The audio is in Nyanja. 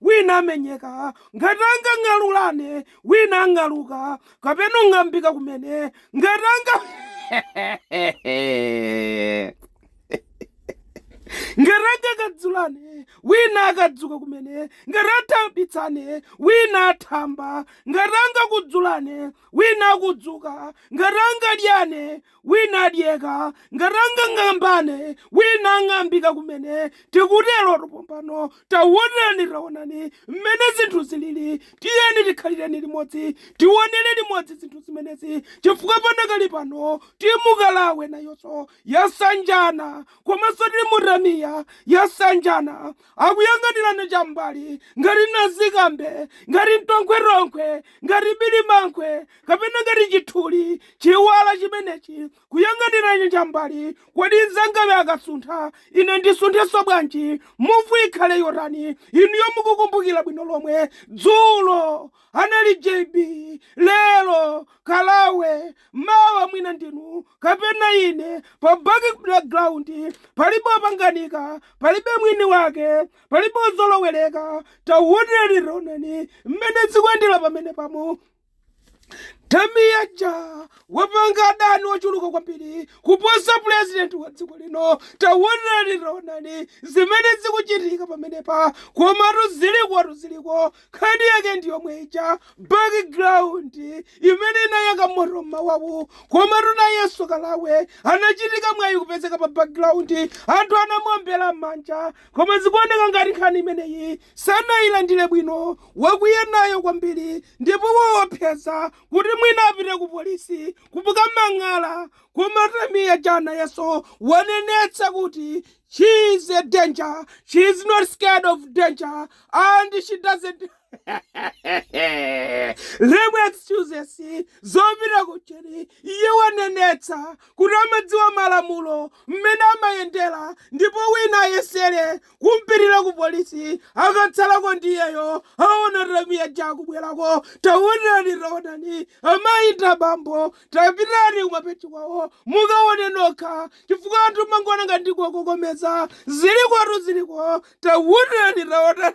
Wina amenyeka, ngati angang'alulane, wina ang'aluka, kapena ung'ambika kumene, ngati anga ngati angakadzulane, wina akadzuka kumene, ngati angathambitsane, wina athamba, ngati angakudzulane, wina akudzuka, ngati angadyane, Wina adyeka, ngati angang'ambane, wina ang'ambika kumene. Tikuterotu pompano. Tawonani, tawonani mmene zinthu ziliri. Tiyeni tikhalireni limodzi, tiwonere limodzi zinthu zimenezi, chifukwa padakali pano timu Kalawe nayonso yasanjana, komanso timu Tamia yasanjana. Akuyang'anirana cham'mbali ngati nazikambe, ngati mtonkhwetonkhwe, ngati birimankhwe, kapena ngati chithuli, chiwala chimenechi. Kuyang'anirana cham'mbali, Kodi mzangayu akasuntha, ine ndisunthenso bwanji? Muvu ikhale yotani? Inuyo mukukumbukira bwino lomwe. Dzulo, anali JB, lero, Kalawe, Mawa mwina ndinu kapena ine pa background palibe opanganika palibe mwini wake palibe ozoloweleka tawonani tawonani mmene zikuyendera pamenepa Tamia Jaa wapanga adani ochuluka kwambiri kuposa pulezidenti wa dziko lino tawonani tawonani zimene zikuchitika pamenepa komatu ziliko ziliko Nkhani yake ndi yomwe ija, background, imene inayaka moto m'mawawu. Komatu nayenso Kalawe anachitika mwayi kupezeka pa background. Anthu anamuombera m'manja. Koma zikuoneka ngati nkhani imeneyi sanailandire bwino. Wakwiya nayo kwambiri ndipo waopseza kuti mwina apite kupolisi kukamang'ala. Koma Tamia Jaa nayenso wanenetsa kuti She is a danger. She is not scared of danger. And she doesn't. Lemu excuses zopita kucheni iye wanenetsa kuti amadziwa malamulo mmene amayendera ndipo wina ayesere kumpitira ku polisi akatsalako ndiyeyo aona Tamia Jaa kubwerako taonani taonani amayi abambo Tapitani kumapeji kwawo mukaone nokha chifukwa anthu mmangoona ngati ndikuwakokomeza. Zilikotu ziliko. Taonani, taonani.